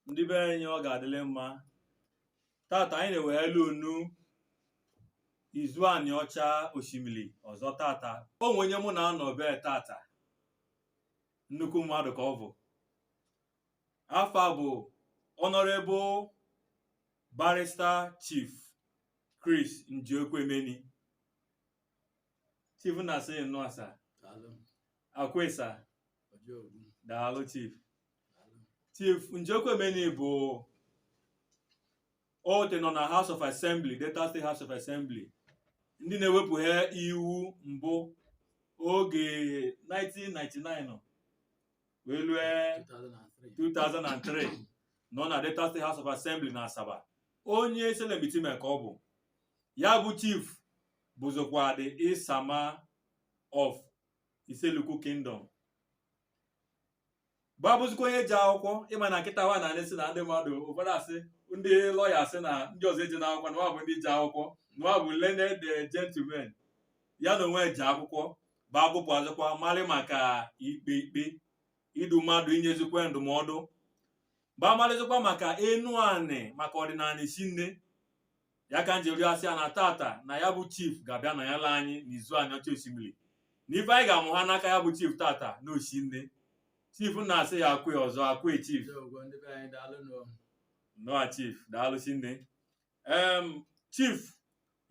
ndị be anyị ọ ga-adịlị mma tata anyị na-ewehali unu Izu Aniocha Oshimili ọzọ tata o nwe onye mụ na-anọ bee tata nnukwu mmadụ ka ọ bụ afa bụ Honorable Barrister Chief Krees Njiokwuemeni Chief na-asị nnụa sa Daalụ. akwe sa Ọjọọ ogbu. daalụ Chief Chief Njiokwuemeni bụ ọ te nọ na House of Assembly Delta State House of Assembly ndị na-ewepụhe iwu mbụ oge 1999 wee lue 2003 nọ na Delta State House of Assembly na Asaba onye Issele-Mkpitime ka ọ bụ ya bụ chief bụzikwa the Isama of Issele-Uku Kingdom bịa bụzikwa onye je akwụkwọ ị ma na kịta wa na anị sị na ndị mmadụ ụfọdụ asị ndị lọya sị na ndị ọzọ ejene akwụkwọ na wa bụ ndị je akwụkwọ na wa bụ learned gentlemen ya na onwe je akwụkwọ bịa gụpụ bịazikwa malị maka ikpe ikpe idu mmadụ inyezikwa ndụmọdụ bịa malịzikwa maka Enuani maka ọdịnanị shinne ya ka njiri asị ya na tata na ya bụ chief ga-abịa na ya la anyị n'Izu Aniocha Oshimili na ife anyị ga-amụha n'aka ya bụ chief tata na o shinne chief na-asị ya akwe ọzọ akwe chief Ndewo, ndị be anyị daalụ nụ. nnụa chief daalụ shinne em chief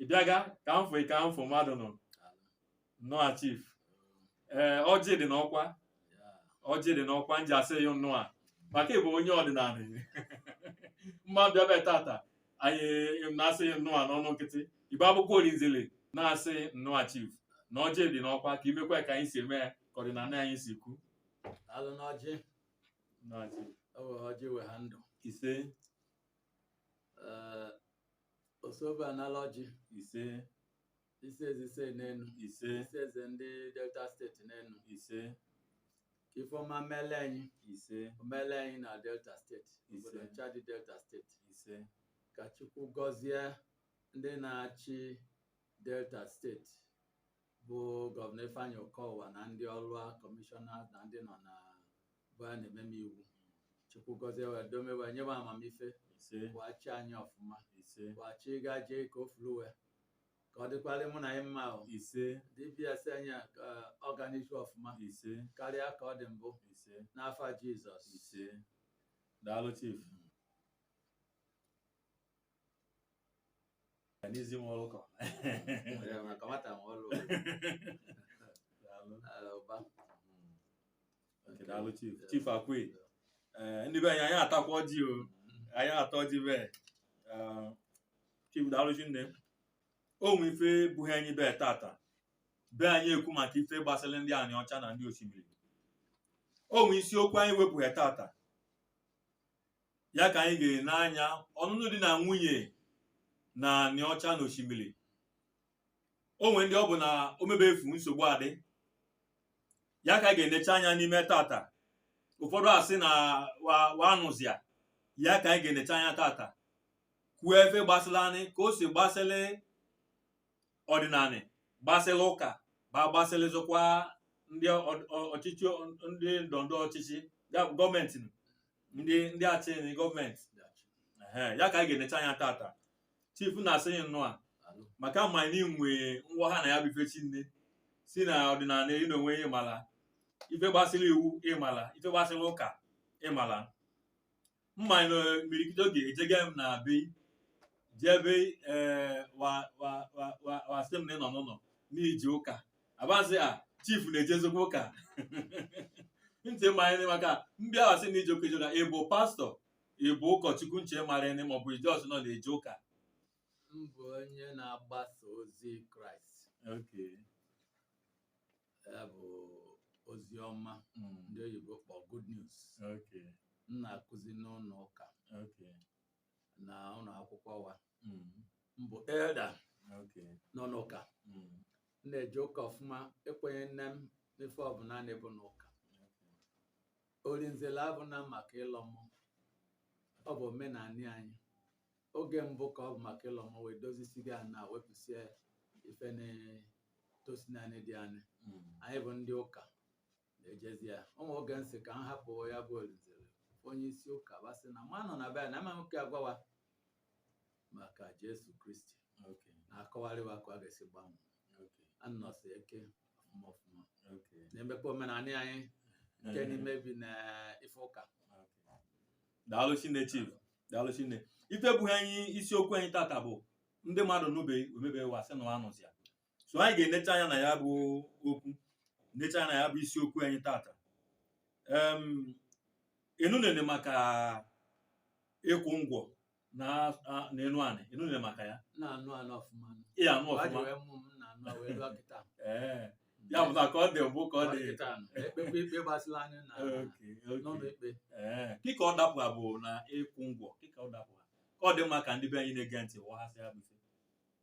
ị bịaga ka m fụ ka m fụ mmadụ nọ nnụa chief ee ọjị dị n'ọkwa ọjị dị n'ọkwa nji asị ị nnụa maka ị bụ onye ọdịnanị mma bịa bịa tata anyị na-asị ị nnụa n'ọnụ nkịtị ị bịa bụkwa Olinzele na-asị nnụa chief na ọjị dị n'ọkwa ka i mekwa ka anyị si eme ya ka ọdịnanị anyị si kwu Daalụ n'ọjị, nnọọ chief o wehe ọjị weha ndụ. ise Ee, Osobe anala ọjị, ise isi eze ise n'enu ise isi eze ndị delta steeti n'enu ise ka ife ọma mele anyị ise o mele anyị na delta steeti obodo Ise. ncha dị delta steeti ise ka chukwu gọzie ndị na-achị delta steeti bụ gọvanọ ifeanyị okowa na ndị ọlụ a kọmishọna na ndị nọ n'ebe a na-ememe iwu chukwu gọzie wa dome wa nye wa amamife ise wa chịa anyị ọfụma ise wa chị gaje ka o furu wa ka ọ dịkwalị mụ na ị mma o ise DBS anyị a ka ọ ga n'ihu ọfụma ise karịa ka ọ dị mbụ ise n'afa jizọs ise daalụ chief Ya n'izi nwa ụkọ Ya, maka nwata nwe ọlụ daalụ Ah, ụba Okay, daalụ chief chief akwe ee ndị be anyị anyị atakwa ọjị o anyị ata ọjị be ee, chief daalụ shinne o nwe ife buhe anyị be tata be anyị ekwu maka ife gbasịlị ndị Aniocha na ndị Oshimili o nwe isiokwu anyị wepụha tata ya ka anyị ga-ene anya ọnụnụ di na nwunye na Aniocha na Oshimili o nwe ndị ọ bụ na o mebe efu nsogbu adị ya ka anyị ga-enecha anya n'ime tata ụfọdụ asị na wa anụzị ya ya ka anyị ga-enecha anya tata kwuo ife gbasịlị anyị ka o si gbasịlị ọdịnanị gbasịlị ụka ba gbasịlịzịkwa ndị ọchịchị ndị ndọndọ ọchịchị gọọmenti ndị ndị achị gọọmenti ya ka anyị ga-enecha anya tata chief na-asị yị nnụa maka m marị na ị nwe ngwa ha na ya bụ ife shinne si na ọdịnanị ị n'onwe ị mala ife gbasịrị iwu ị mala ife gbasịrị ụka ị mala m marị na imirikiti oge ejega m na be ị jee be ee wa wa wa wa wa sị m na ị nọ n'ụnọ na i je ụka a ba sị a chief na-ejezikwa ụka ntị m marị maka m bịa wa sị na i je ụka ejega ị bụ pastọ ị bụ ụkọchukwu nche marị ne maọbụ ị just nọ na-eje ụka m bụ onye na-agbasa ozi kraịst Okay. ya bụ ozi ọma Mm. ndị oyibo kpọ good news Okay. m na-akụzi n'ụnọ ụka Okay. na ụnọ akwụkwọ wa Mm. m bụ elda Okay. n'ụnọ ụka Mm. m na-eje ụka ọfụma ekwenyene m n'ife ọbụna na-ebu n'ụka Orinzele abụna maka ịlọ mmụọ ọ bụ omenanị anyị oge mbụ ka ọ bụ maka ịlọ mmụọ wee dozisiga ya na wepụsie ife na-etosinanị dị anyị anyị bụ ndị ụka na-ejezi ya o nwe oge m sị ka m hapụ ya bụ Orinzele onye isi ụka ba sị na ma nọ na be anyị na amaghị ka agwa wa maka Jesu Kristi Okay. na-akọwarị wa ka ọ ga-esi gbanwee Okay. nọsie ike ọfụma ọfụma Okay. na-emekwa omenanị anyị nke na-emebina ife ụka daalụ shinne chief daalụ shinne ife buhe anyị isiokwu anyị tata bụ ndị mmadụ nụbe o mebe wa sị na wa anụzị ya so anyị ga-enecha anya na ya bụ okwu necha anya na ya bụ isiokwu anyị tata em ị nụnene maka ịkwụ ngwọ na a- na Enuanị ị nụnene maka ya na-anụ anụ ọfụma ị anụ Ọ ọfụma jụrụ mmụ m na-anụ a wee luo kịta ee ya bụ ka ọ dị mbụ ka ọ dị kịta nọ. ekpekpe ikpe gbasịlị anyị na oke n'ụnọ oke ikpe ee kị ka ọ dapụ ya bụ na ịkwụ ngwọ kị ka ọ dapụ ka ọ dị mma ka ndị be anyị na-ege ntị ghọhasịa ya bụ ife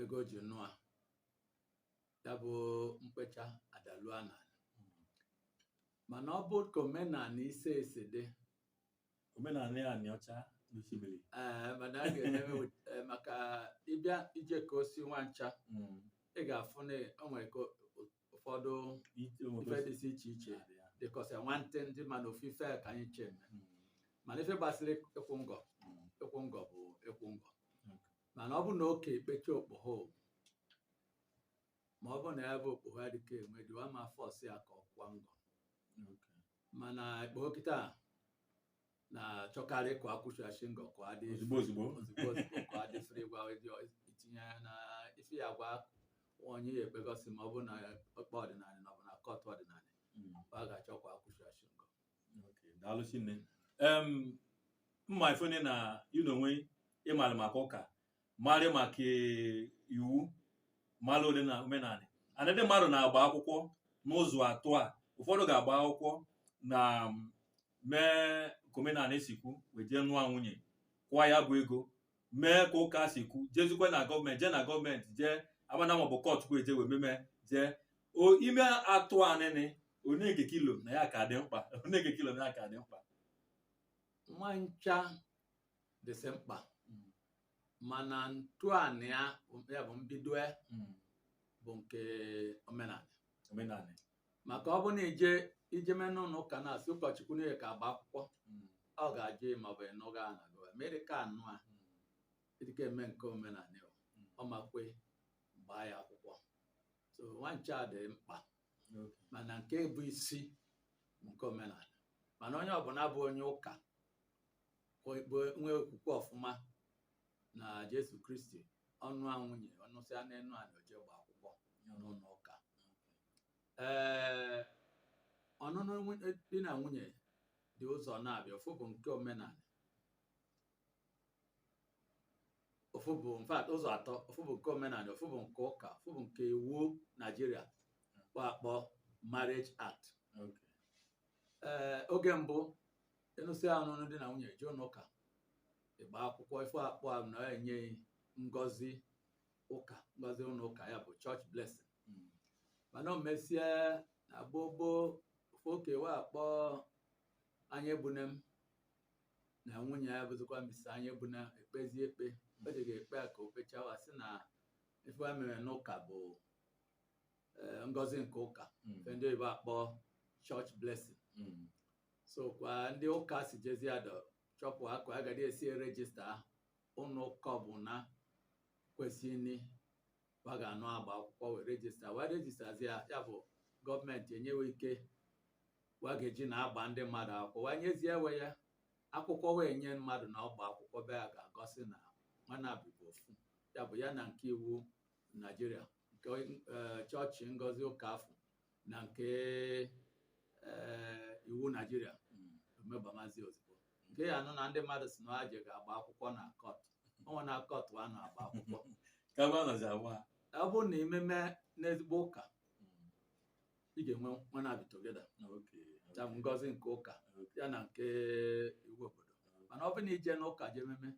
ego ji nụa ya bụ mkpecha adalua na mana ọ bụ ka omenanị ise esi dị omenanị ya Aniocha na Oshimili ee mana a ga-emewe eh, maka ịbịa ijekọsị wa ncha Mm. ị ga-afụ na o nwere ka ụfọdụ ife dịsị iche iche dịkọsị nwantị ndị mana ofu ife ka anyị ncha eme Mm. mana ife gbasịrị ịkwụ ngọ Mm. ịkwụ ngọ bụ ịkwụ ngọ mana ọ bụ na okei kpecha okpoho ma ọ bụ na ya bụ okpoho adịka enwe di wa ama force ya ka ọ kwụa ngọ mana ikpoho kịta na-achọkarị ka akwụchachi ngọ ka ọ dị ozugbo ozugbo ka ọ dị free gwa itinye ya na ife ya gwa onye ya ekpegọsị ma ọ bụ na ọkpa ọdịnanị na ọ bụ na kọtụ ọdịnanị Mm. wa ga-achọkwa akwụchachi ngọ daalụ shinne em mma ife onye na ị n'onwe ị marị maka ụka marị maka iwu marụ na omenanị ana ndị mmadụ na-agba akwụkwọ n'ụzọ atọ a ụfọdụ ga-agba akwụkwọ na mee ka omenanị si kwu wee jee nụa nwunye kwụa ya bụ ego mee ka ụka si kwu jezikwe na gọọmenti jee na gọọmenti jee amana maọbụ kọtụ ka eje wee meme jee ime atọ anịnị onege ka i lo na ya ka dị mkpa onege ka i lo na ya ka dị mkpa wa ncha dịsị mkpa mana ntọanị ya bụ mbido ya bụ nke omenanị omenanị maka ọ bụ na i je i jeme n'ụnọ ụka na-asị ụkọchukwu na ị ka-agba akwụkwọ ọ ga-ajụ ị ma ọ bụ ị nụga na ị dịka anụ a dịka eme nke omenanị, ọ ma kwe gbaa ya akwụkwọ so wa ncha dị mkpa mana nke bụ isi bụ nke omenanị mana onye ọbụna bụ onye ụka bụ- bụ nwee okwukwe ọfụma na Jesu Kristi ọ nụa nwunye ọ nụsịa n'enu anị o je gba akwụkwọ n'ụnọ ụka ee ọnụnụ di na nwunye dị ụzọ naabụa ofu bụ nke omenanị ofu bụ in fact ụzọ atọ ofu bụ nke omenanị ofu bụ nke ụka ofu bụ nke iwu Naịjirịa kpọ akpọ marriage act Okay. ee oge mbụ ị nụsịa ọnụnụ di na nwunye eje ụnọ ụka ịgba akwụkwọ ife akpọ a na enye ngọzi ụka ngọzi ụnọ ụka ya bụ church blessing Mm. mana o mesịa na gboo gboo ofu okei wa akpọ Anyaegbunam na nwunye ya bụzikwa Mrs Anyaegbunam ekpezi ikpe o jega ikpe a ka o kpecha wa sị na ife a mere n'ụka bụ eh, ngọzi nke ụka Mm. nke ndị oyibo akpọ church blessing Mm. so ka ndị ụka si jezi adọ chọpụa ka a ga-adị esi register ahụ ụnọ ụka ọbụna kwesịrị wa ga-anọ agba akwụkwọ wee rejista wa rejistazi ya ya bụ gọọmenti enye we ike wa ga-eji na-agba ndị mmadụ akwụkwọ wa nyezie we ya akwụkwọ wee nye mmadụ na ọ gba akwụkwọ be ya ga-egosi na wa naabị bụ ofu ya bụ ya na nke iwu naijiria nke eh, chọọchị ngozi ụka afụ na nke eh, iwu naijiria o mebamazi ozugbo nke ya nụ na ndị mmadụ sị na wa je ga-agba akwụkwọ na kọt ọnwa na kọt wa na-agba akwụkwọ ka ebe a nọzi agwa ha ọ bụrụ na i meme n'ezigbo ụka ị ga-enwe wa naabị together okay ya bụ ngọzi nke ụka ya na nke iwu obodo mana ọ bụrụ na i je n'ụka je ememe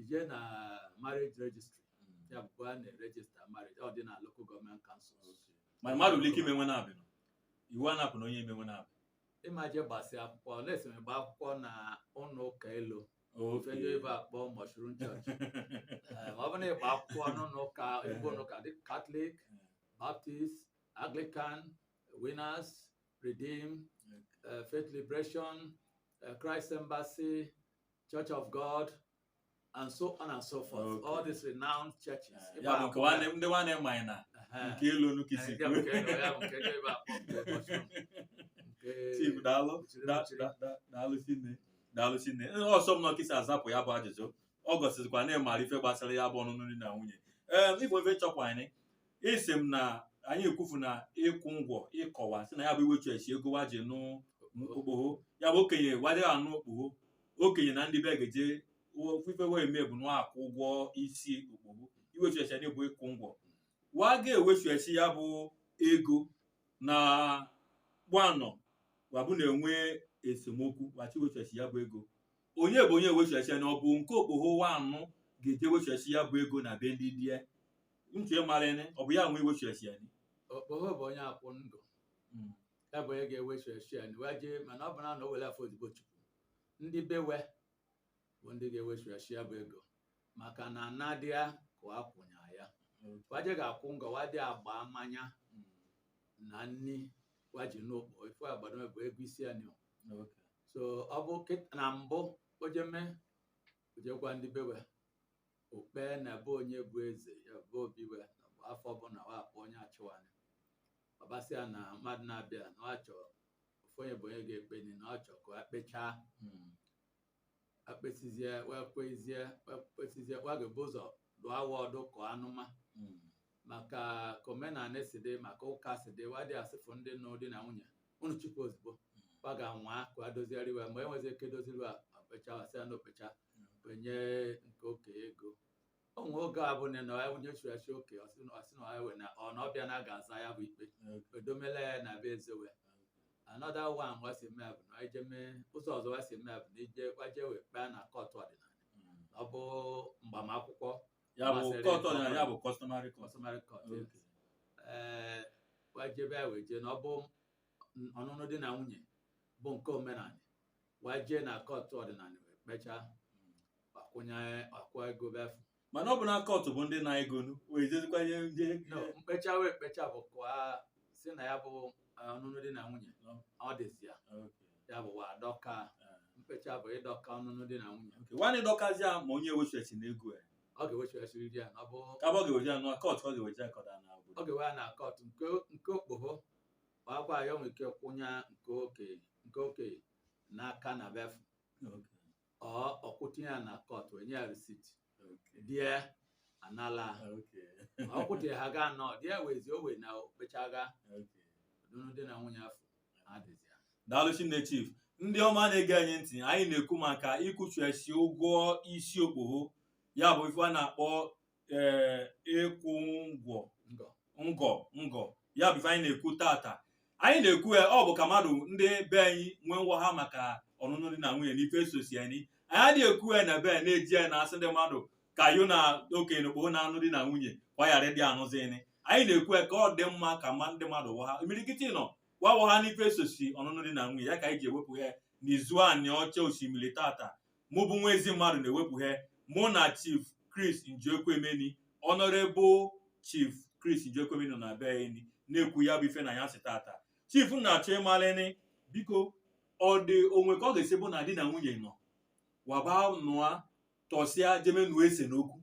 i je na marriage registry ya bụ a na-erejista marriage ọ dị na local government councils mana mmadụ nwere ike ime we naabị iwu a na-apụ na onye me we naabị ị ma je gbasị akwụkwọ lesịrị gba akwụkwọ na ụnọ ụka elu ife ndị oyibo akpọ mushroom church Ee, ma ọ bụrụ na ị gba akwụkwọ n'ụlọ ụka ebe ụlọ ụka dị katọlik baptist anglican winners redeem eh, faith liberation eh, christ embassy church of god and so on and so forth Okay. all these renowned churches Eh, Ebe ya bụ a nke nwanne ndị nwanne mmanya na Ehe. nke elu unu ka isi Eh, ya bụ nke elu, ya bụ nke elu ebe a kpọ nke ụbọchị m. Nke- Chief daalụ Chiri da- chiri. da- da- daalụ chinne daalụ chinne Ihe ọ sọ m nọkịsị azapụ ya bụ ajụjụ ọ gosizikwa na ị mara ife gbasara ya bụ ọnụnụ di na nwunye ee ịbụ ife chọkwa anyị isi m na anyị ekwufu na ịkwụ ngọ ị kọwa sị na ya bụ iwechiachi ego wa ji nụ okpoho ya bụ okenye wa adịghị anụ okpoho okenye na ndị be ga-eje ife we eme bụ na akwụ ụgwọ isi okpoho iwechiachi ya nị bụ ịkwụ ngọ wa ga-ewechiachi ya bụ ego na gbanọ wa bụ na-enwe esemokwu wa chi wechiachi ya bụ ego onye bụ onye wechiachi ya na ọ bụ nke okpoho wa anụ ga-eje wechiachi ya bụ ego na be ndị di e ntị ịmarịnị ọ bụ ya nwe iwechiachi ya nị okpoho bụ onye akwụ ngọ ya bụ onye ga-ewechiachi ya wee jee mana ọ bụ na na o were afọ odibo chukwu ndị be we bụ ndị ga-ewechiachi ya bụ ego maka na anadịa ka ọ akwụnya ya wa je ga-akwụ ngọ wa dị agba mmanya na nni wa ji nụ okpoho ife agbado bụ ego isi anị so ọ bụ kịt- na mbụ o jeme o je gwa ndị be we o kpe na be onye bụ eze ya bụ obi we na bụ afa ọbụna wa akpọ onye achị wa ọ basịa na mmadụ na-abịa na ọ chọọ ofu onye bụ onye ga-ekpe ni na ọ chọọ ka a kpechaa Mm. ekpesizie wa ekpezie wa ekpesizie wa ga-ebu ụzọ dụa wa ọdụ kọ anụma Mm. maka ka omenanị si dị maka ụka si dị wa adị asịfụ ndị nụ di na nwunye unu chụpụ ozugbo wa ga-anwa ka e dozieri wa mgbe enwezi ike doziri wa okpecha wa sị a na okpecha kwụnye nke okenye ego o nwe oge ọ bụ na ya onye chụrụ achụ oke ọ sị na ọ sị na ewe na ọ na ọ bịa na ga-aza ya bụ ikpe e domela ya na be eze wa another one wa si eme bụ na ije mee ụzọ ọzọ wa si eme bụ na ije wa eje wee kpee na kọtụ ọdịnanị ọ bụ mgbam akwụkwọ ya bụ magistrate court na ya bụ customary court customary court Okay. ee wa ejebe ya wee jee na ọ bụ ọnụnụ di na nwunye bụ nke omenanị wa eje na kọtụ ọdịnanị wee kpechaa akwụnye akwụ ego befu mana ọ bụ na kọtụ bụ ndị na-egonu wee jezikwa ihe ndị no mkpecha wee kpecha bụ ka sị na ya bụ eh, ọnụnụ di na nwunye adịzi ya ya bụ wa dọka mkpecha bụ ịdọka ọnụnụ di na nwunye wa adọkazi ya ma onye wechiachi na ego ya ọ ga-ewechasiri di ya na ọ bụ ka bụ ọ ga-ewechi ya na kọtụ ọ ga-ewechi ya kọda na ọ obodo ga-ewe ya na kọtụ nke nke okpogho ọkwa ya nwere ike kwụnye nke oke nke oke n'aka na befu ọ ọ kwụtinye ya na kọtụ enye ya receipt di e anala ọ kwụtinye ha ga anọ di e wezi owe na okpechaga ọnụnụ di na nwunye afụ adịzi ya daalụ shinne chief ndị ọma na-ege anyị ntị anyị na-ekwu maka ịkwụchuechi ụgwọ isi okpogho ya bụ ife a na-akpọ ee ịkwụ ngọ Ngọ. ngọ ngọ ya bụ ife anyị na-ekwu tata anyị na-ekwu ya ọ bụ ka mmadụ ndị be anyị wee ghọha maka ọnụnụ di na nwunye na ife sosi anyị anyị adịghị ekwu ya na ebe anyị na-eji ya na-asị ndị mmadụ ka yo na okenye na okpogho na-anụ di na nwunye kwa ghara ịdị anụzini anyị na-ekwu ya ka ọ dị mma ka mma ndị mmadụ ghọha imirikiti nọ wa aghọha n'ife sosi ọnụnụ di na nwunye ya ka anyị ji ewepụ ya n'Izu Aniocha Oshimili tata mụ bụ Nwaezimmadu na-ewepụhe mụ na Chief Chris Njiokwuemeni Honourable Chief Chris Njiokwuemeni nọ n'ebeni na-ekwu ya bụ ife n'anyasị tata chief na-achọ ịmalịnị biko ọ dị o nwe ka ọ ga-esi bụ na di na nwunye nọ wa ba nụa tọsịa jeme nụọ ese n'okwu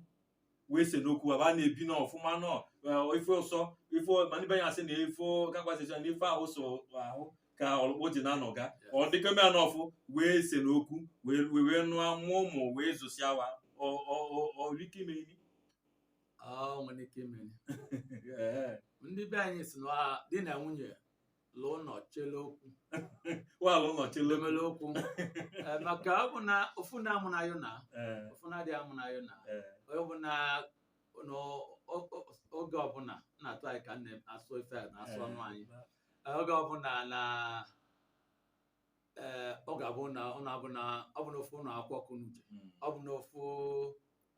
wee se n'okwu wa ba na-ebi n'ọfụma nọ eh, ife ụsọ ife ma ndị be ya asị na ife kakwasịcha na ife ahụ so ahụ ka ọlụkpọ ji na-anọga ọ dịka ome anọ ọfụ wee se n'okwu wee wee wee nụa mụọ ụmụ wee zụsịa wa Ọ- ọ- ọ- o nwere ike imeni o nwere ike ime Ee, ndị be anyị si na ọha di na nwunye lụọ nọ chele okwu waalụ nọ chele lemele okwu Eh, maka ọ bụ na ofu nna amụ na yo na Eh, ofu nna adịghị amụ na yo na eh, onye bụ na na o- o- oge ọbụla na-atụ anyị ka nne asụ ife a na-asụ ọnụ anyị Eh, oge ọbụla na ee ọ ga-abụ na ọ na-abụ na ọ bụ n'ofu ụlọ akwụkwọ ka unu je Mm. ọ bụ n'ofu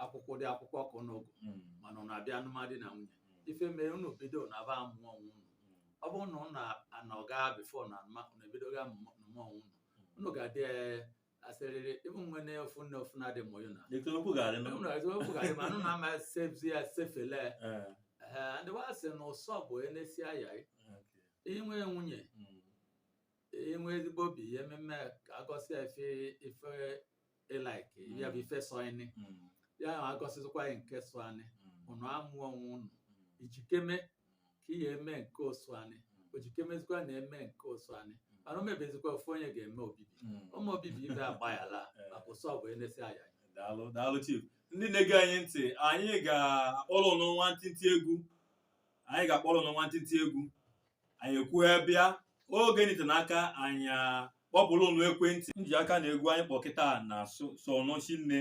akwụkwọ dị akwụkwọ ka unu gụ Mm. mana ọ na-abịa anụm di na nwunye Mm. ife mere unu bido na aba amụ onwe unu Mm. ọ bụrụ na unu anọga before na anụma unu ebidoga amụ onwe unu unu ga-adị eh, asịrịrị ịbụ nwe na ofu nne ofu nna adị mụ na Etu okwu ga-adị nụ. unu ga-adị okwu ga-adị ma unu na-ama sevzi ya sefele Eh, ee ndị wa sị na ụsọ bụ enesi anya eh, okay. inwe nwunye Mm. inwe ezigbo obi ihe mmemme agọsị efe ife ị like ya bụ ife sọ anyị Mm, ya ahụ agọsịzikwa anyị nke sọ anyị mm, ụnụ amụ onwe ụnụ mm, i jikeme ka ihe eme nke ọ sọ anyị o jikemezikwa na-eme nke ọ sọ anyị mana o mebezikwa ofu onye ga-eme obibi mm. mee obibi ibe agbaghara maka ụsọ bụ enesi anya daalụ daalụ chief ndị na-ege anyị ntị anyị ga-akpọrọ ụnụ nwantịntị egwu anyị ga-akpọrọ ụnụ nwantịntị egwu anyị ekwuo ya bịa oge nite n'aka anyị kpọpụrụ ụnụ ekwentị m ji aka na egwu anyị kpọ kịta na-asọ ụnụ chi nne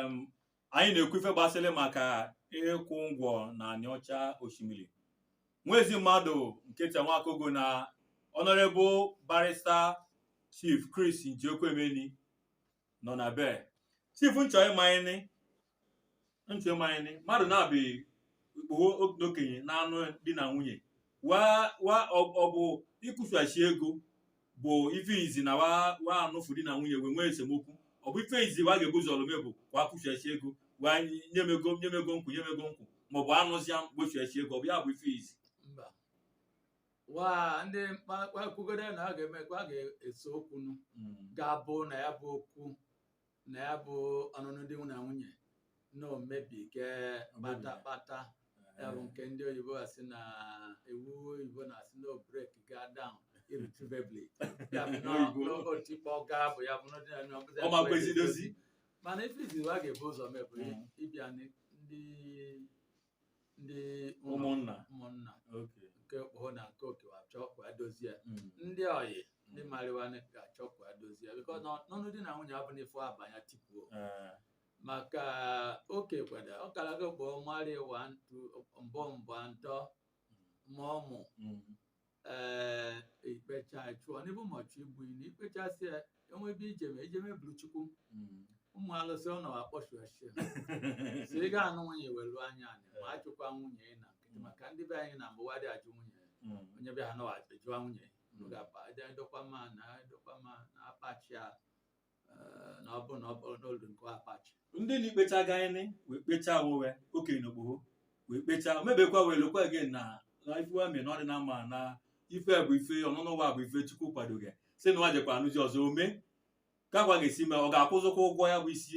m anyị na-ekwu ife gbasịrị maka ịkwụ ngwọ na Aniọcha Oshimili nwa ezi mmadụ nketa Nwakogo na Honorable Barrister Chief Chris Njiokwuemeni nọ na be chief n chọ ịma nị n chọ ịma nị mmadụ na-abịa ikpoho n'okenye na-anụ di na nwunye wa wa ọ ọ bụ ịkwụshachi ego bụ ife izi na wa wa anụfụ di na nwunye wee nwee esemokwu ọ bụ ife izi wa ga-ebu ụzọ mee bụ wa kwụshachi ego wa nye m ego nye m ego n kwụ nye m ego n kwụ maọbụ anụzịa gbochiachi ego ọ bụ ya bụ ife izi mba wa ndị mkpakwugode na a ga-eme ka a ga-ese okwu nụ ga-abụ na ya bụ okwu na ya bụ ọnụnụ di na nwunye na o mebiga kpata kpata ya bụ nke ndị oyibo asị na iwu oyibo na-asị na ọ break ga down irretrievably ya bụ na Oyibo. na o tikpọga bụ ya bụ na ọ dị na- na ọ bụzi Ọ ma kwezi dozi. mana ife izi wa ga-ebu ụzọ mee bụ Mm. ịbịa ndị ndị ụlọ ụmụnna ụmụnna okay nke okpoho na nke oke wa achọ ka wa dozie ya Mm. ndị ọyị ndị marị wa nị ga-achọ ka wa dozie ya because n'ọnụ di na nwunye abụna ife a banye tipuo Eh, maka oke kwada ọ kara gị okpoho marị wa ntụ mbọ mbọ ntọ ma ọmụ mm. ee ikpecha chụọ n'ebe ụmụ chụọ igbu na ikpechasị ya enwe ebe ijeme ijeme bulu chukwu ụmụ alụsị ọ nọwa akpọchu achị so ị ga-anụ nwunye welu anya anyị ma achụkwa nwunye ị na nkịtị maka ndị be anyị na mbụ wa adị ajụ nwunye onye bịa ha nọwa ajụwa nwunye unu ga-akpa dọkwa ma na dọkwa ma na akpachi a eh, na ọ bụ na ọ bụ n'olu nke akpachi ndị na ikpecha gaịnị wee kpechaa wowe okenye na okpogho wee kpechaa mebekwa wee lokwa gị na na ife wa mee na ọ dị na mma na ife bụ ife ọnụnụ wa bụ ife chukwu kwadoghị si na wa jekwa anụzi ọzọ ome ka wa ga-esi mee ọ ga-akwụzịkwa ụgwọ ya bụ isi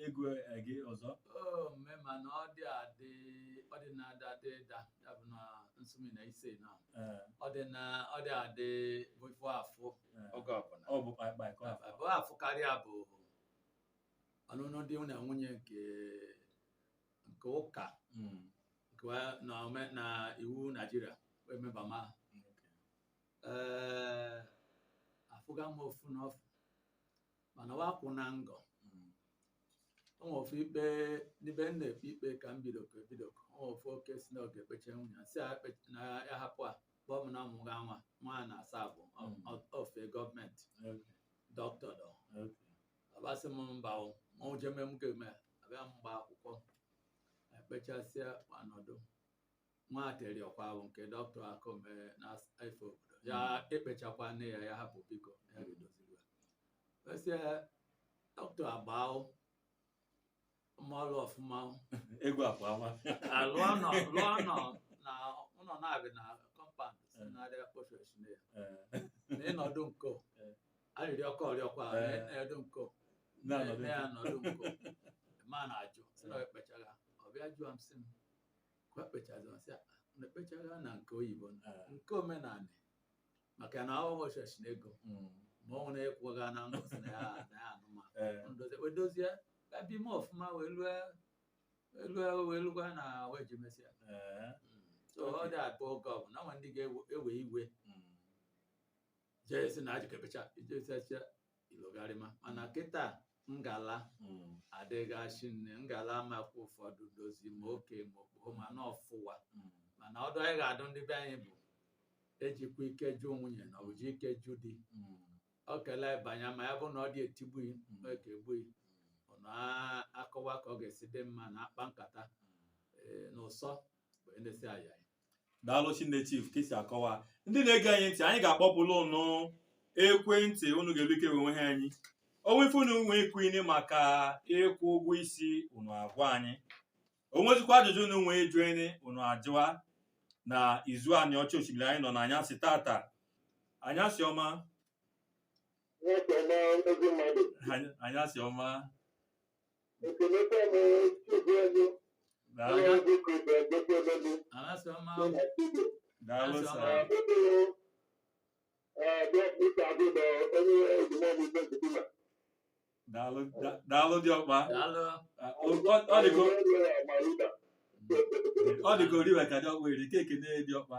ego eh, gị ọzọ Oh, mme mana ọ dị adị ọ dị na-ada ada ịda ya bụ na nsụmi na ise na Ee, ọ dị na ọ dị adị bụ ife afụ ee. oge ọbụla ọ bụ kpaịkpaị ka ọ bụ. abụọ afụ karịa bụ ọnụnụ di na nwunye nke nke ụka Mm, nke wa- na ome- na iwu naijiria wee meba ma okay. ee afụga m ofu na ofu mana wa kwụ na ngọ o nwere ofu ikpe n'ebe m na-ekpe ikpe ka m bido ka ebido ka o nwere ofu oke si na ọ ga-ekpecha nwunye si ya ekpe- na ya hapụ a kpọọ m na ọ mụga nwa nwa a na asaa bụ Mm. ofe gọọmenti dọkịta dọ abasị m mba o ma o jeme m ga-eme abịa m gba akwụkwọ ekpechasịa anọdụ nwa ateri ọkwa ahụ nke dọkịta akụ mee n'afọ obodo ya ekpechakwa nne ya ya hapụ biko ya ga-edoziri ya wesị dọkịta agbaa mmalụ ọfụma ego akwa ama lụọ ụnọ lụọ ụnọ na ụlọ na-ebi na kọmpand si na-arịa kpofu echine ya na ịnọdụ nko arịrị ọkọ ọrịọkwa Eh. na-edu nko na-anọdụ na ya nọdụ nko ma na-ajụ sị na ekpechara ọbịa jụọ m sị m ka o kpechazi m asị ya na ekpechaghị na nke oyibo na Eh, nke omenala maka na ọ wọchọchị na ego mm, ma ọ nwere ịkwụga na ngọ sị na ya na ya anụma eh, ndozi wee dozie ka bi m ọfụma wee lue lue wee lugwa na wee ji mesịa eh, so ọ dị abụ oge ọbụna nwa ndị ga-ewe iwe mm, jee si na eje ikpecha ijesacha ilogharịma mana kịta ngala Mm, adịga shinne ngala amakwa ụfọdụ dozi ma oke ma okpogho ma na ọfụwa mm, mana ọdụ anyị ga-adụ ndị be anyị bụ ejikwa ike jụ nwunye na eji ike jụ di mm, ọ kelee banye ma ya bụ na ọ dị etigbughị Mm. ma eke egbughị unu akọwa ka ọ ga-esi dị mma na akpa nkata mm. ee, na ụsọ bụ ndesi ayayi daalụ shinne chief ka isi akọwa ndị na-ege anyị ntị anyị ga-akpọpụlụ unu ekwentị unu ga-elu ike wee nweha anyị o nwe ife unu nwee ikwuni maka ịkwụ ụgwọ isi unu agwa anyị o nwezikwa ajụjụ unu nwee ịjụni unu ajụwa na Izu Aniocha Oshimili anyị nọ na anyasị tata anyasị ọma anyasị ọma daalụ diọkpa ọ dịka oriwe ka diọkpa eri ka ekene diọkpa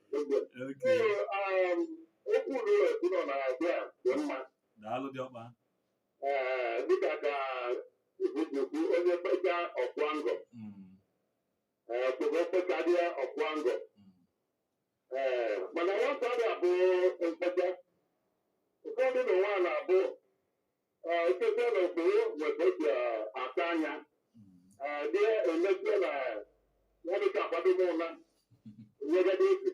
daalụ diọkpa dịka ka ikwu onye kpecha ọ kwụa ngọ kpechadịa ọ kwụa ngọ mana nwata adị abụ mkpecha ụfọdụ na nwa na-abụ Ekpekpe na okporo nweta otu aka anya. Dị emekpe na ya dị ka akwado m ụla. Nyegade otu.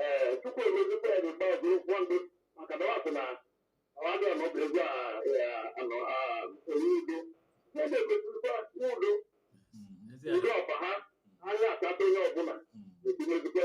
Ee, tupu emezikwa ya dị mkpa ụgwọ ndụ maka na ọ sị na ọ dị ọnụ bụ ego anọ enye udo. Ya na-egosikwa udo udo ọba ha anya akpata onye ọbụla. Ebinyezikwa.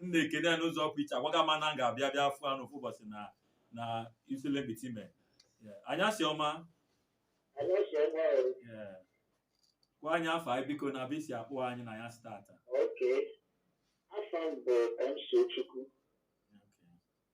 m na-ekene ya n'ụzọ pụ iche agwaga m a na m ga-abịa bịa fụ anụ ofu ụbọsị na Isele Mkpitime anyasị ọma Anyasị ọma o. Yeah. gwa anyị afa ị biko na ebe i si akpọ anyị na anyasị tata Okay. Afa m bụ MC Chukwu.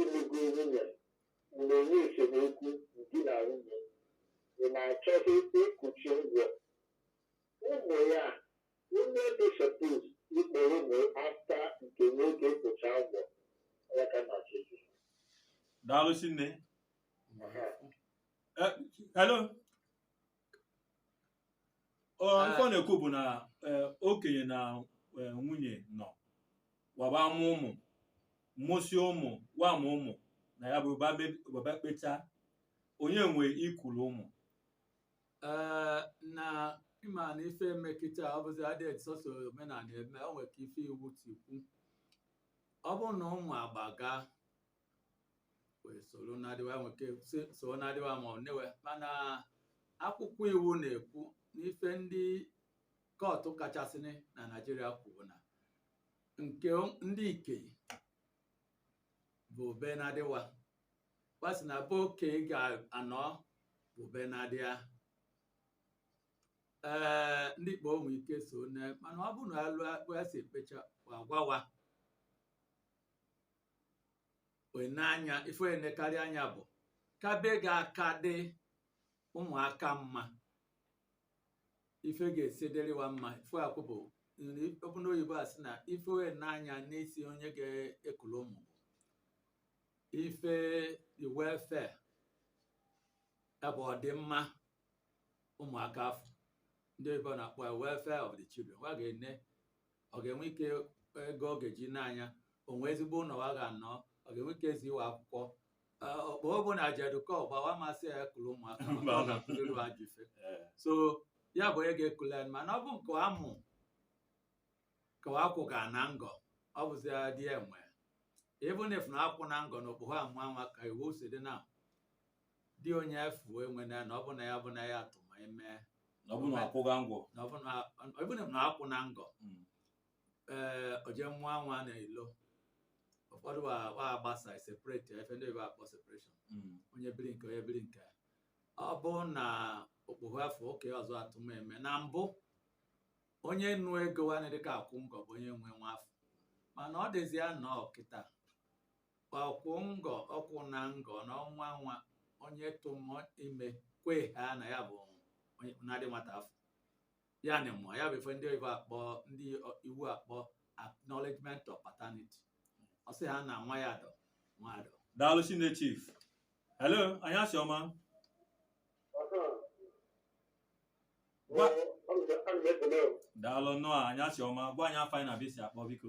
Ịlụgo nwunye bụ na e nwee esemokwu di na nwunye ị na-achọghị ịkwụchi ngọ ụmụ ya onye dị suppose ịkpọrọ ụmụ after nke nwoke kwụcha ngọ ya ka na ọchịchị daalụ shinne hello Ọ, Ah. ife ọ na-ekwu bụ na eh, okenye na eh, nwunye nọ wa ba amụ ụmụ mụsị ụmụ wa mụ ụmụ na ya bụ ba be- wa ba kpecha onye nwe ikulu ụmụ Ee, na ị ma na ife eme kịta ọ bụzi adịghị sọsọ omenala eme o nwere ka ife iwu ti kwu ọ bụ na ụmụ agbaga wee soro nnadi wa nwe ike so- so nnadi wa ma ọ nne wa mana akwụkwọ iwu na-ekwu n'ife ndị kọtụ kachasị na Naịjirịa kwuru na nke ndị ikei bụ be nnadi wa wa sị na be okei ga-anọ bụ be nnadi a ee ndị ikpoho nwe ike so nne mana ọ bụrụ na alụ akpụ ya si ekpecha agwa wa wee ne anya ife e nekarị anya bụ ka be ga-aka dị ụmụaka mma ife ga-esi dịrị wa mma ife akwụ bụ okwu n'oyibo a sị na ife e ne anya n'isi onye ga-ekulu ụmụ ife the welfare ya bụ ọdịmma ụmụaka afụ ndị oyibo na-akpọ ya welfare of the children wa ga-ene ọ ga-enwe ike ego ọ ga-eji ne anya o nwe ezigbo ụnọ wa ga-anọ ọ ga-enwe ike ezi wa akwụkwọ Ee, okpoho bụ na jedukọ gba wa ma-asị ya kulu ụmụaka maka ọ ga-akụziri ha ajọ ife Eh, so ya bụ onye ga-ekulu mana ọ bụ nke a mụ ka akwụgana ngọ ọ bụzi di enwe even if na akwụna ngọ na okpoho amụa nwa ka iwu si dị na di onye afụ enwe na na ọ bụ na ya bụ na ya atụma ime na ọ bụ na akwụga ngọ na ọ bụ na ọ bụ na akwụna ngọ Mm. ee o je mụa nwa n'ilo ụfọdụ wa wa agbasa separate ife ndị oyibo akpọ separation Mm. onye biri nke onye biri nke ọ bụ na okpoho afụ okei ọzọ atụma ime na mbụ onye nụ ego nwanne dịka akwụ ngọ bụ onye nwe nwa afụ mana ọ dịzịa nọ kịta ọ kwụ ngọ ọ kwụna ngọ na ọnwa nwa onye tụma ime kwe ha na ya bụ nnadi nwata afụ ya na mụọ ya bụ ife ndị oyibo akpọ ndị iwu akpọ acknowledgement of paternity ọ sị ha na nwa ya dọ nwa dọ daalụ shinne chief hello anyasị ọma Gwa- daalụ nnọọ anyasị ọma gwa anyị afa gị na ebe i si akpọ biko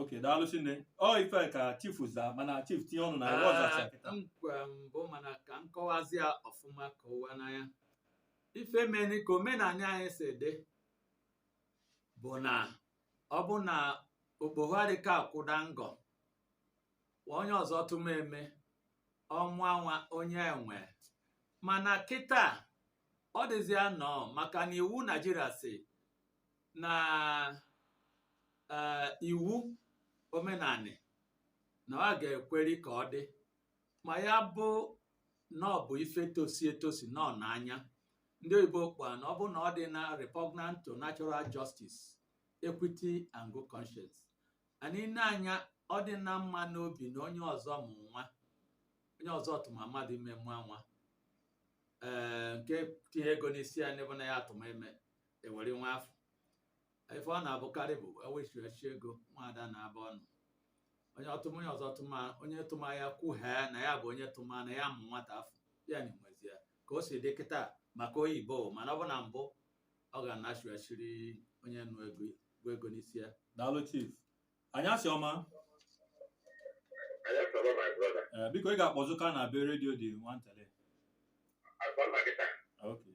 okay daalụ shinne ọ ife ka chief za mana chief tinye ọnụ na ife ọ zacha kịta nkwa mbụ mana ka m kọwazi ya ọfụma ka ọ wa n'anya ife meni ka omenanị anyị si dị bụ na ọ bụ na okpoho a dịka akwụda ngọ onye ọzọ tụma ime ọnwa nwa onye enwe mana kịta ọ dịzịa nọ maka na iwu Naịjirịa sị na ee iwu omenanị na ọ ga-ekweri ka ọ dị ma ya bụ na ọ bụ ife tosi etosi nọ n'anya ndị oyibo kpa na ọ bụ na ọ dịna repugnant to natural justice equity and good conscience and ị nee anya ọ dịna mma n'obi na onye ọzọ mụ nwa onye ọzọ tụma mmadụ ime mụa nwa ee nke tinye ego n'isi ya n'ebe na ya atụma ime ewere nwa afụ ife ọ na-abụkarị bụ ewechighachi ego nwaada na-aba ọnụ onye ọtụma onye ọzọ tụma onye tụma ya kwuhee na ya bụ onye tụma na ya mụ nwata afụ ya na-enwezi ya ka o si dị kịta maka oyibo mana ọ bụ na mbụ ọ ga-anachighachiri onye nụ ego bụ ego n'isi ya daalụ chief anyasị ọma Anyasị ọma my brother. ee biko ị ga-akpọzụka na be redio dị nwantele Agba na gị taa. okay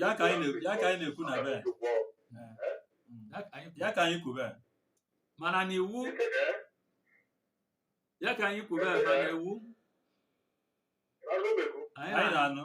ya ka anyị na-ekwu na be ya ka anyị kwube mana na iwu ya ka anyị kwube ma na iwu anyị na-anụ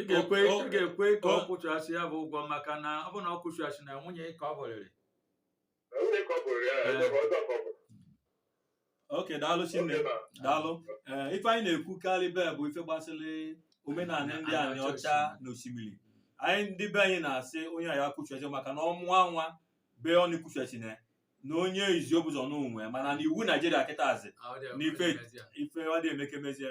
ị ga-ekwe ị ga-ekwe ka ọ kwụchasị ya bụ ụgwọ maka na ọ bụ na ọ kwụchasịna nwunye ka ọ bụrịrị okay daalụ Chinne daalụ ee ife anyị na-ekwukarịbe bụ ife gbasịrị omenanị ndị Aniocha na Oshimili anyị ndị be anyị na-asị onye anyị akwụchachi maka na ọ mụa nwa be ọ na-ekwuchachi na na onye izi o bu ụzọ nụ nwe mana na iwu Naijiria kịtazi na ife ife ọ dị emekemezie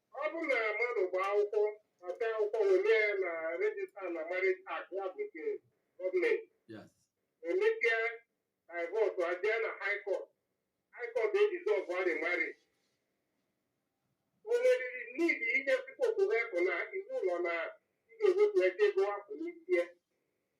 Ọ bụrụ na mmadụ gbaa akwụkwọ ma tee akwụkwọ were ya na register na marriage act ya bụ nke gọọmenti Yes. emeke divorce ajee na high court high court edissolve the marriage o nweriri n'ihi ihe Supreme Court kwu na iwu ụlọ na ị ga-ewepụ ego a kwụ n'isi ya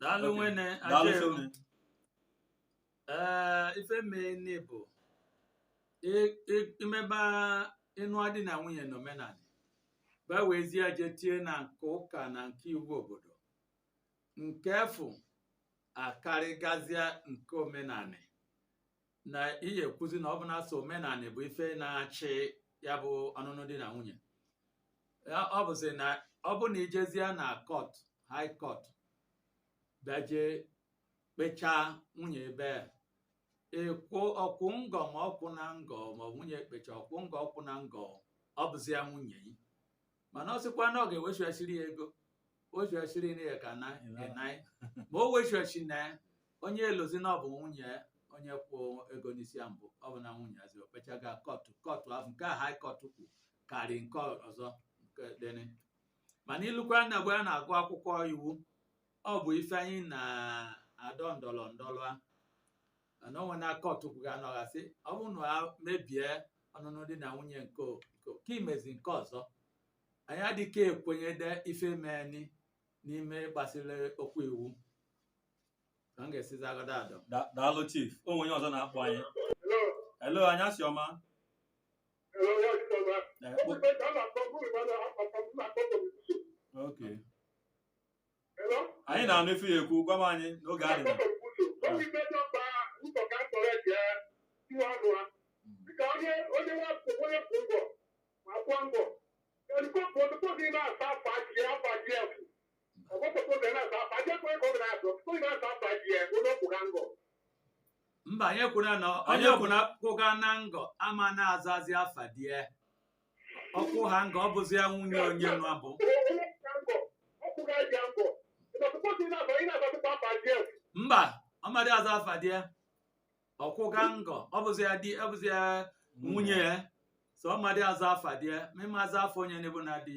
daalụ nwene ajere ee ife mee nne bụ i- i- i meba ị nụa di na nwunye na omenanị gbawezie je tie na nke ụka na nke iwu obodo nke afụ akarịgazịa nke omenanị na ị ya-ekwuzi na ọ bụ na sọ omenanị bụ ife na-achị ya bụ ọnụnụ di na nwunye Ya- ọ bụzi na ọ bụ na ijezie na court high court bịaje kpechaa nwunye ebe a e kwuo ọ kwụ ngọ ma ọ kwụna ngọ ma ọ bụ nwunye ekpecha ọ kwụ ngọ ọ kwụna ngọ ọ bụzi ya nwunye yi mana ọ sịkwa na ọ ga-ewechighachiri ya ego wechighachiri na ya ka na enai ma o wechighachiri na ya onye elozi na ọ bụ nwunye ya onye kwụ ego n'isi ya mbụ ọ bụ na nwunye ya zi o kpechaga kọtụ kọtụ ahụ nke a haị kọtụ kwu karị nke ọzọ nke dịrị mana i lukwa na nga a na-agụ akwụkwọ iwu ọ bụ ife anyị na-adọ ndọrọ ndọrọ a mana o nwe na kọtụ kwuga anọghị asị ọ bụrụ na a mebie ọnụnụ di na nwunye nke o- nke o- ka imezi nke ọzọ anyị adịghị ekwenyede ife meni n'ime gbasiri okwu iwu ka m ga-esizi agọda adọ Da- daalụ chief o nwere onye ọzọ na-akpọ anyị hello anyasị ọma Eh, kpo- okay anyị na-anụ ife ya ekwu gwama anyị n'oge adị na mba anyị ekwuna na onye kwuna kwụga na ngọ ama na-azazi afa di ya ọ kwụ ha ngọ ọ bụzịa nwunye onye nwa bụ mba ọ madị aza afa di ya ọ kwụga ngọ ọ bụzịa di ọ bụzịa nwunye ya so ọ madị aza afa di ya ma ị ma aza afa onye na-abụ na di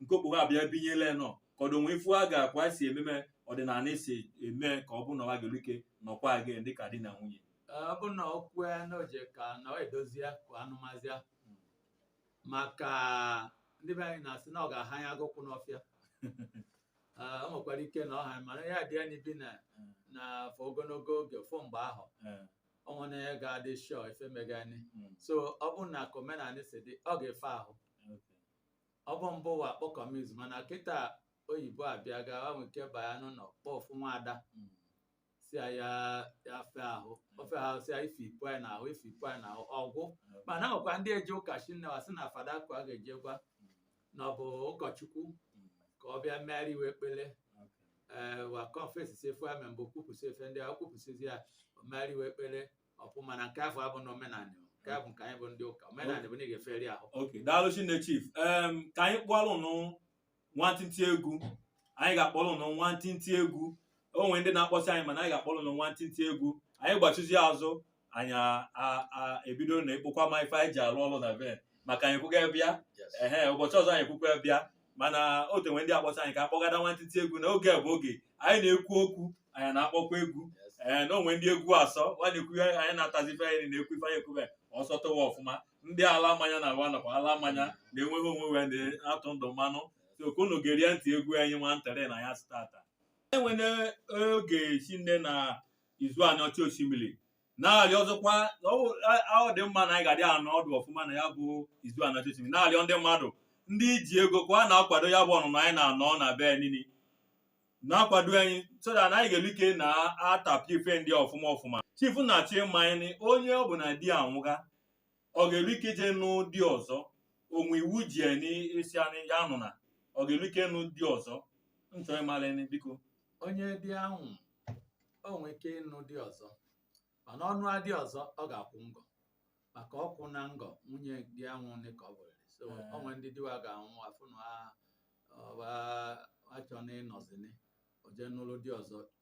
nke okpogho abịa binyela ya nọ ka ọdụ o nwe ife a ga-akwa si ememe ọdịnala esi eme ka ọ bụ na ọ gaghị ike nọkwa gị dịka di na nwunye ọ bụ na ọ kwue na o je ka na ọ edozi ya ka a nụmazi ya maka ndị be anyị na-asị na ọ ga-aha ya agụkwụ n'ọfịa Ah, o nwekwara ike na ọ ha mana ya dị anyị bi na na afọ ogologo oge fụ mgbe ahụ Eh, ọ nwere onye ga-adị shọ ife megani mm, so ọ bụrụ na ka omenala si dị ọ ga-efe ahụ okay. ọ bụ mbụ wa kpọ kọmiz mana kịta oyibo abịa ga nwee ike baya n'ụlọ kpọ ofu nwaada Mm. si ya ya ya fe ahụ o fe ahụ si ya ife ipu anyị n'ahụ ife ipu anyị n'ahụ ọ gwụ mana nwekwa ndị eje ụka shinne wa si na fada ka a ga-eje gwa na ọ bụ ụkọchukwu Mm. ka ọ bịa meri wa ekpele Okay. ee wa kọnfesi si ife wa me mbụ kwupụsị ife ndị a kwupụsịzi ya o meri wa ekpele ọ pụ mana nke afụ abụ na omenala nke a bụ nke anyị bụ ndị ụka omenala bụ na ị ga-eferi ahụ ok daalụ shinne chief em ka anyị kpọrọ ụnụ nwantịntị egwu anyị ga-akpọrọ ụnụ nwantịntị egwu o nwere ndị na-akpọsị anyị mana anyị ga-akpọrọ ụnụ nwantịntị egwu anyị gbachizi azụ anyị a- a- a- ebido na ịkpọkwa ma ife anyị ji alụ ọlụ na be maka anyị kwụga bịa ehe ụbọchị ọzọ anyị kwụkwa bịa mana o te nwe ndị akpọsa anyị ka akpọgada nwantịtị egwu na oge a bụ oge anyị na-ekwu okwu anyị na-akpọkwa egwu ee na o nwe ndị egwu asọ nwa na-ekwu ihe anyị na-atazi ife anyị na-ekwu ife anyị ekwube ọ sọtụ wa ọfụma ndị ala mmanya na wa nakwa ala mmanya na-enweghị onwe wee na-atụ ndụ mmanụ so ka unu gerie ntị egwu anyị nwantịtị na ya stata enwere oge shinne na Izu Aniocha Oshimili na-arịọ ọzọkwa na ọ a- a- ọ dị mma na anyị ga-adị anọdụ ọfụma na ya bụ Izu Aniocha Oshimili na-arịọ ndị mmadụ ndị ji ego kwa na-akwado ya bụ ọnụnọ anyị na-anọ na ebe nini na-akwado anyị so that anyị ga-elu ike na-atapịa ife ndị ọfụma ọfụma chief na-achọ ịma anyị na onye ọ bụ na di a nwụga ọ ga-elu ike ije nụ di ọzọ o nwe iwu ji ya nị sị na ya anụna ọ ga-elu ike nụ di ọzọ m chọrọ ịmara ya biko onye di a nwụ o nwee ike ịnụ di ọzọ mana ọ nụa di ọzọ ọ ga-akwụ ngọ maka ọ kwụna ngọ nwunye di a nwụnị ka ọ bụrịrị so Ee. o nwere ndị di wa ga-anwụ afụ na ha ọba achọna ịnọzini o je nụrụ di ọzọ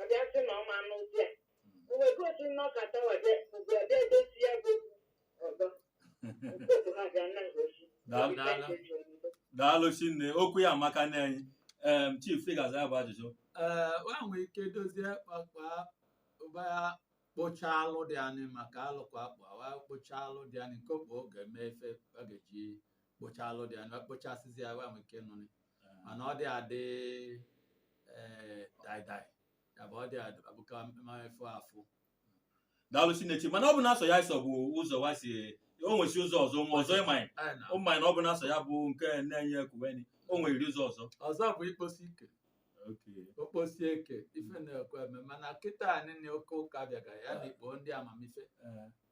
ọ bịa sị na ọ ma anụ di a o wee gosi na ọ kata wade ugbu a bịa edozi ya bụ ọzọ okwu ha bịa na ngosi Daalụ, daalụ. daalụ shinne okwu ya amaka na anyị em chief ị ga-aza ya bụ ajụjụ ee wa nwee ike dozie kpakpa ụba ya kpocha alụ dị anị maka alụ kwa akpa wa kpocha alụ dị anị nke okpo ga-eme ife ọ ga-eji kpocha alụ dị anị wa kpochasịzi ya wa nwee ike nụnị mana ọ dị adị ee daidai ya bụ ọ dị adị abụka mmefu afụ daalụ shinne Chief mana ọ bụna sọ ya sọ bụ ụzọ wa si o nwesi ụzọ ọzọ nwa ọzọ ịmanyị Anyị na- ụmụanyị na ọ bụna sọ ya bụ nke na-enye ekuweni o nwerịrị ụzọ ọzọ ọzọ bụ ikposi ike okposi eke ife na-ekwe eme mana kịtanị na oke ụka bịaga ya na ikpo ndị amamife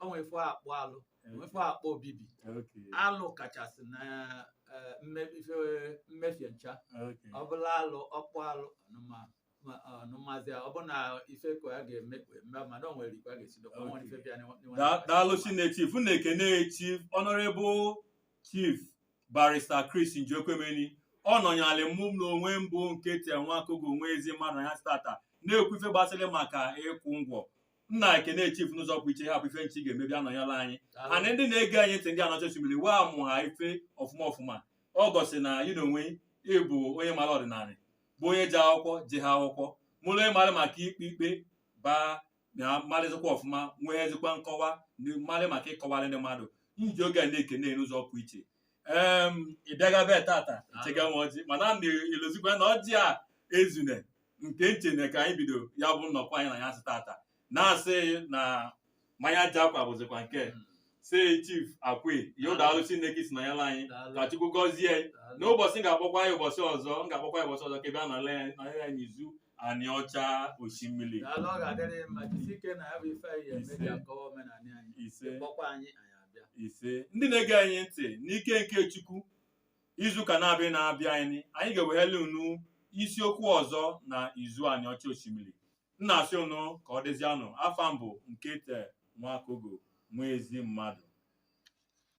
o nwere ife akpọ alụ nwere ife akpọ obibi Okay. alụ kachasị na eh, mme- ife mmefie ncha Okay. ọ bụlụ alụ ọ kpụ alụ ọnụma ma- ọnụmazi ọ bụ na ife ka ya ga-eme eme mana o nwere ikwe a ga-esi dokwa nwere ife bịa n'ịwa- n'ịwa- Da- daalụ shinne Chief na-ekene Chief Honorable Chief Barrister Chris Njiokwuemeni ọ nọnyalị mụ m n'onwe m bụ Nkechi Nwakaego Nwaezimmadụ na ya stata na-ekwu ife gbasara maka ịkwụ ngọ na-ekene chief n'ụzọ pụ iche hapụ ife ncha ọ ga-eme bịa nọnyela anyị na ndị na-ege anyị ntị ndị Aniocha Oshimili wee mụa ife ọfụma ọfụma o gosi na yi na onwe yi ị bụ onye mara ọdịnanị bụ onye ji akwụkwọ ji ha akwụkwọ mụrụ onye mara maka ikpe ikpe bịa marịzikwa ọfụma nwee ezikwa nkọwa marị maka ịkọwarị ndị mmadụ m ji oge a na-ekene n'ụzọ pụ iche em ị bịaga be tata chega m ọjị mana m na-elozikwa na ọjị a ezune nke m chene ka anyị bido ya bụ nnọkọ anyị na ya sị tata na-asị na mmanya ji akwa bụzikwa nke si chief akwe ya daalụ chineke si na ya la anyị ka chukwu gọzie anyị n'ụbọchị m ga-akpọkwa ya ụbọchị ọzọ m ga-akpọkwa ya ụbọchị ọzọ ka ị bịa nọrọ ya nọrọ ya n'izu aniọcha oshimili daalụ ọ ga-adịrị gị mma jisi ike na ya bụ ife anyị ga-eme ji akọwa omenala anyị ise kpọkwa anyị anyị abịa ise ndị na-ege anyị ntị n'ike nke chukwu izuụka na-abịa na-abịa anyị anyị ga-eweghere unu isiokwu ọzọ na izu aniọcha oshimili m na-asị unu ka ọ dịzianụ afa m bụ nkete nwakogo nwaezimmadụ